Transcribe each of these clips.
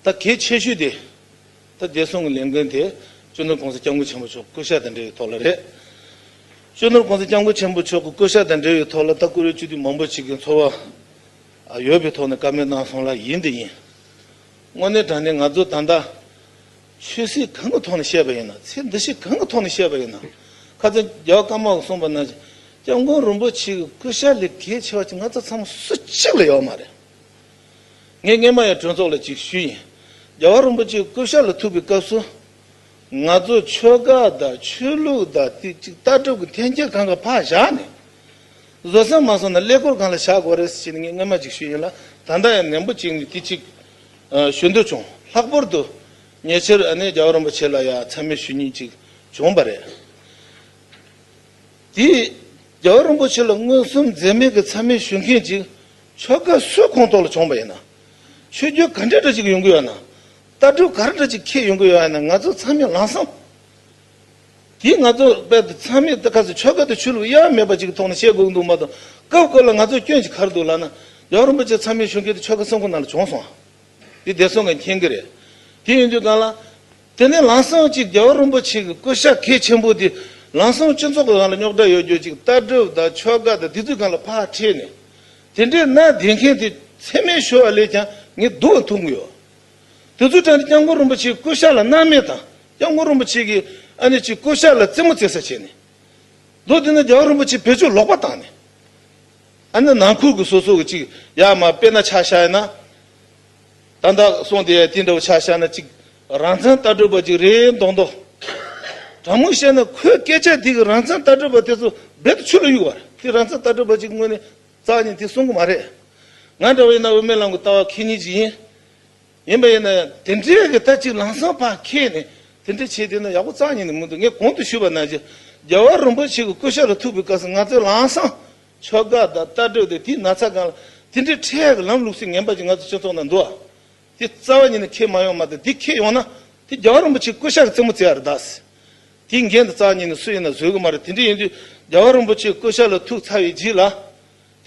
ད་གལ་ཆེ་ཤོས་དེ། ད་བདེ་སྲུང་གི་ལས་འགན་དེ་གཅོད་ནོར་གོང་ས་སྐྱབས་མགོན་ཆེན་པོ་མཆོག་གི་སྐུ་ཞབས་དང་འབྲེལ་བའི་ཐོག་ལ་རེད། གཅོད་ནོར་གོང་ས་སྐྱབས་མགོན་ཆེན་པོ་མཆོག་གི་སྐུ་ཞབས་དང་འབྲེལ་བའི་ཐོག་ལ་ད་བཀུར་འོས་སྤྱི་འཐུས་མང་པོ་ཞིག་གི་འཚོ་བ་ཡོད་པའི་ཐོག་ནས་བཀའ་མོལ་གནང་སོང་ལ་ཡིན་དེ་ཡིན། དངོས་གནས་དྲང་གནས་ང་ཚོ་ད་ལྟ་ཆོས་སྲིད་གང་གི་ཐོག་ནས་བཤད་པ་ཡིན་ན་ཚེ་འདི་ཞིག་གང་གི་ཐོག་ནས་བཤད་པ་ཡིན་ན་ཁ་ཚོན་རྒྱ་བ་སྐམ་མ་གསུངས་པ་ན་སྐྱབས་མགོན་རིན་པོ་ཆེ་གི་སྐུ་ཞབས་ལས་གལ་ཆེ་བ་ཅིག་ང་ཚོ་ཚང་མ་སུ་གཅིག་ལ་ཡོད་མ་རེད། ངས་སྔས་མ་ཡང་གྲོས་ཚོགས་ལ་ཅིག་ཞུས་ཡིན། རྒྱལ་བ་རིན་པོ་ཆེ་སྐུ་ཞབས་ལ་ཐུག་པའི་སྐབས་སུ། ང་ཚོ་ཆོལ་ཁ་དང་ཆོས་ལུགས་དང་རྩིས་ཅིག་ལྟ་གྲུབ་ཀྱི་འཐེན་འཁྱེར་གང་གི་ཕག་བཞག་ནས། བཟོད་སེམས་མ་སོང་ན་ཀླད་ཀོར་གང་ལ་བཞག་དགོས་རེད་ཟེར་ནས་ངས་སྔས་མ་ཅིག་ཞུས་ཡིན་ལ་ད་ལྟ་ཡང་ནན་པོ་བྱིངས་ནས་དེ་ཅིག་ཞུ་འདོད་བྱུང། ལྷག་པོར་དུ། ཉེ་ཆར་ཨ་ནེ་རྒྱལ་བ་རིན་པོ་ཆེ་ལ་ཡང་མཚན་སྨོད་ཞུ་ཉེན་ཅིག་བྱུང་བ་རེད། དེས་རྒྱལ་བ་རིན་པོ་ཆེ་ལ་མངོན་སུམ་འཛེམ་མེད་ཀྱི་ཚད་མེད་ཞུ་མཁན་ཅིག་ཆོལ་ཁ་སུའི་ཁོངས་གཏོགས་ལ་བྱུང་བ་ཡིན་ན། ཆོས་བརྒྱུད་ག་འདྲའི་འདྲ་ཅིག་ཡོང་གི་ཡོད་ན། ལྟ་གྲུབ་ག་རེ་འདྲ་ཅིག་ཁྱེད་ཡོང་གི་ཡོད་ཡ་ན་ང་ཚོ་ཚང་མས་ལངས་སམ། དེས་ང་ཚོ་དཔལ་དུ་ཚང་མས་ཁ་ཟས་ཆོལ་ཁ་དུ་ཆུ་ལུག་གཡའ་མེད་པ་ཅིག་ཐོག་ནས་བཤད་དགོས་ཀྱི་འདུག་མ་གཏོགས་སྐབས་བཀོད་ལ་ང་ཚོ་སྐྱོན་ཅིག་གར་འདུག་ལགས་ན། རྒྱལ་བ་རིན་པོ་ཆེ་ཚང་མས་ཞུ་མཁན་དེ་ཆོལ་ཁ་སུའི་ཁོངས་ན་ལ་བྱུང་སོང། དེ་བདེ་སོང་གི་མཁྱེན་གྱི་རེད། དེ་ཡིན་དུས་གང་ལ། དེ་ནས་ལམ་སང་གཅིག་རྒྱལ་བ་རིན་པོ་ཆེ་གི་སྐུ་ཤ་གས་ཆེན་པོ་དེ་ལམ་སང་སྤྱི་ཚོགས་གང་ལ་རྙོག་དྲ་ཡོད་རྒྱུ་ཅིག་ལྟ་གྲུབ་དང་ཆོལ་ཁ་དང་དེ་དུས་གང་ལ་ཕར་ཁྲིད་ནས་དེ་འདྲའི་གནའ་དེང་མཁན་དེ་འཚེ་མེད་ཞུ་བ་ལས་ཀྱང་ངས་སྡུག་བ་འཐུང་གི་ཡོད། དེ་ཚོའི་གྲལ་ནས་སྐྱབས་མགོན་རིན་པོ་ཆེའི་སྐུ་ཤ་ལ་སྣང་མེད་དང་སྐྱབས་མགོན་རིན་པོ་ཆེ་གི་ཨ་ནེ་ཆེའི་སྐུ་ཤ་ལ་རྩེད་མོ་རྩེད་ས་བྱས་ནས་འདུག་དེ་ནས་རྒྱལ་བ་རིན་པོ་ཆེ་བེད་སྤྱོད་ལོག་པ་བཏང་ནས་ཨ་ནེ་ནང་ཁུལ་གྱི་སོ་སོ་གི་ཅིག་ཡ་མ་དཔེ་ན་ཆ་ཤ་ཡིན་ན། ད་ལྟ་སོང་དེ་དེ་འདྲ་བོ་ཆགས་ཤར་ན་ཅིག་རང་བཙན་ལྟ་གྲུབ་པ་ཅིག་རེད་མདོག་མདོག། དྲང་མོ་བཤད་ན་ཁོའི་སྐད་ཆ་དེ་གིས་རང་བཙན་ལྟ་གྲུབ་པ་དེ་ཚོ་རྦད་དུ་ཆུ་ལ་གཡུགས་བར་དེ་རང་བཙན་ལྟ་གྲུབ་པ་ཅིག་དངོས་ནས་རྩ་ཉེ་དེ་གསུང་གི་མ་རེད། ང་འདྲ་བ་ཡིན་ན་འོས་མི་ལང་གི་ལྟ་བ་ཁྱེད་གཉིས་ཀྱི་ཡིན། ཡིན་པ་ཡིན་ན་དེ་འདྲའི་གི་ལྟ་ཅིག་ལང་སང་ཕ་ཁྱེད་ནས་དེ་འདྲ་བྱས་དེ་ན་ཡག་པོ་རྩ་ཉེ་ནི་མི་འདུག་ངས་གོང་དུ་ཞུས་པ་ན་རྗེ་རྒྱལ་བ་རིན་པོ་ཆེ་གི་སྐུ་ཤ་ལ་ཐུག་པའི་སྐབས་སུ་ང་ཚོའི་ལང་སང་ཕྱོགས་འགའ་དང་ལྟ་གྲུབ་དེ་དུས་ན་ཚ་གང་ལ་དེ་འདྲའི་ཁྲལ་ཡག་གི་ལམ་ལུགས་སུ་ངན་པ་ཅིག་ང་ཚོ་སྤྱི་ཚོགས་ནང་འདུ་བ་དེ་རྩ་བ་ཉིད་ནས་ཁེལ་མ་ཡོང་མ་གཏོགས་དེ་ཁེལ་ཡོང་ན་དེ་རྒྱ་གར་རིན་པོ་ཆེ་སྐུ་ཤ་གི་རྩེད་མོ་རྩེ་བ་རེད་གདའ་སྲིད། དེའི་འགན་དེ་རྩ་བ་ཉིད་ནས་སུ་ཡིན་ན་བཟོད་གི་མ་རེད་དེ་འདྲ་ཡིན་དུས་རྒྱ་གར་རིན་པོ་ཆེའི་སྐུ་ཤ་ལ་ཐུག་ཚར་བའི་རྗེས་ལ།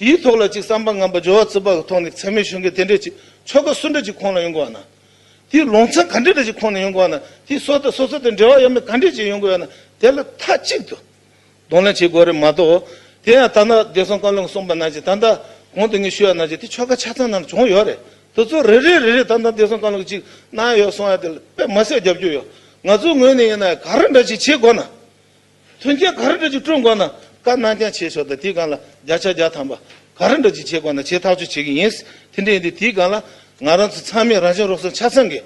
དེའི་ཐོག་ལ་ཅིག་བསམ་པ་ངན་པ་སྦྱོར་བ་རྩིས་པ་གི་ཐོག་ནས་ཚད་མའི་ཞུ་འགན་དེ་འདྲ་ཅིག་ཕྱོགས་འགའ་སུ་འདྲ་ཅིག་ཁོང་ལ་ཡོང་གི་བ་ན། དེའི་ལོང་ཚ་ག་འདྲ་འདྲ་ཅིག་ཁོང་ནས་ཡོང་གི་བ་ན་དེའི་སོ་ཐར་སོ་སོ་དང་འབྲེལ་བ་ཡོད་མེད་ག་འདྲ་ཅིག་ཡོང་གི་བ་ན་དེ་ལ་མཐའ་གཅིག་ཏུ་གདོང་ལེན་བྱེད་དགོས་རེད་མ་གཏོགས། དེ་ཡང་ཐ་ན་བདེ་སྲུང་བཀའ་བློན་གསུངས་པ་ནང་བཞིན་ད་ལྟ་གོང་དུ་ངས་ཞུས་པ་ནང་བཞིན་དེ་ཆོལ་ཁ་ཆ་ཚང་ནང་བྱུང་ཡོད་རེད་དེ་ཚོ་རེ་རེ་རེ་རེ་ད་ལྟ་བདེ་སྲུང་བཀའ་བློན་གཅིག་གནང་ཡོད་གསུངས་ཡོད་དེ་དཔེ་མ་ཟད་རྒྱབ་སྐྱོར་ཡོད་ང་ཚོའི་ངོས་ནས་ཡིན་ན་ག་རེ་འདྲ་ཞིག་བྱེད་དགོས་ན། མཐུན་རྐྱེན་ག་རེ་འདྲ་ཞིག་བསྐྲུན་དགོས་ན་བཀའ་གནང་རྐྱང་བྱེད་ཆོག་དང་དེའི་སྒང་ལ་བརྒྱ་ཆ་བརྒྱ་ཐམ་པ་ག་རེ་འདྲ་ཞིག་བྱེད་དགོས་ན་བྱེད་ཐག་གཅོད་བྱེད་ཀྱི་ཡིན། དེ་འདྲ་ཡིན་དུས་དེའི་སྒང་ལ་ང་རང་ཚོ་ཚང་མས་རང་བྱུང་རོགས་ཟོན་ཆ་ཚང་གིས།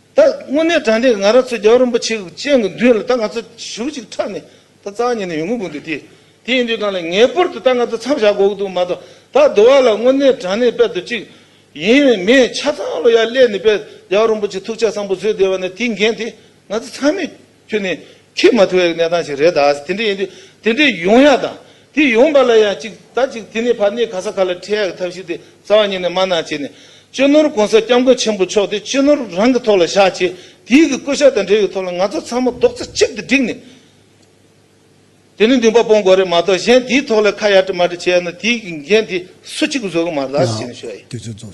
ད་དངོས་གནས་དྲ་འདྲེ་ང་ར་ཚོས་རྒྱལ་བ་རིན་པོ་ཆེ་གི་སྤྱན་གྱི་མདུན་ལ་ད་ང་ཚོ་ཞུགས་གཅིག་ཁྲབ་ནས་ད་རྩ་ཉེ་ནས་ཡོང་གི་དགོས་འདུག་དེ་དེ་ཡིན་དུས་གང་ལ་ངེས་པོར་དུ་ད་ང་ཚོ་མཚམས་བཞག་དགོས་གི་འདུག་མ་གཏོགས་ད་བསྡུ་བ་ལ་དངོས་གནས་དྲ་གནས་དཔལ་དུ་གཅིག་ཡིན་བས་མི་ཆ་ཚང་ལོ་ཡར་སླེབས་ནས་དཔལ་རྒྱལ་བ་རིན་པོ་ཆེ་ཐུགས་ཆ་བཟང་པོ་བཟོས་བསྡད་པ་ནི་དེའི་འགན་དེ་ང་ཚོ་ཚང་མས་ཁྱོད་ནི་ཁེགས་མ་ཐུབ་པའི་གནས་སྟངས་ཤིག་རེད་ད། དེ་འདྲ་ཡིན་དུས་དེ་འདྲའི་ཡོང་ཡག་དང། དེ་ཡོང་པ་ལ་ཡང་གཅིག་ད་གཅིག་དེ་ནི་ཕ་ནི་ག་ས་ག་ལ་འཕྲད་ཡག་གི་ཐབས་ཤིག་དེ་རྩ་བ་ཉིད་ནས་མ་གནང་བྱས་ནས། གཅེས་ནོར་གོང་ས་སྐྱབས་མགོན་ཆེན་པོ་མཆོག་དེ་གཅེས་ནོར་རང་གི་ཐོག་ལ་བཞག་ཅེས་དེའི་གི་བསྐོ་གཞག་དང་འབྲེལ་བའི་ཐོག་ལ་ང་ཚོ་ཚང་མ་རྡོག་རྩ་གཅིག་ཏུ་བསྒྲིགས་ནས། དེ་ནི་འདུན་པ་སྤོང་དགོས་རེད་མ་གཏོགས་གཞན་དེའི་ཐོག་ལ་ཁ་ཡར་དྲི་མར་དྲི་བྱས་ན་དེའི་གི་འགན་དེ་སུ་གཅིག་གིས་བཟོད་གི་མ་རེད་ཟེར་ནས་ཞུ་ཡག་ཡིན།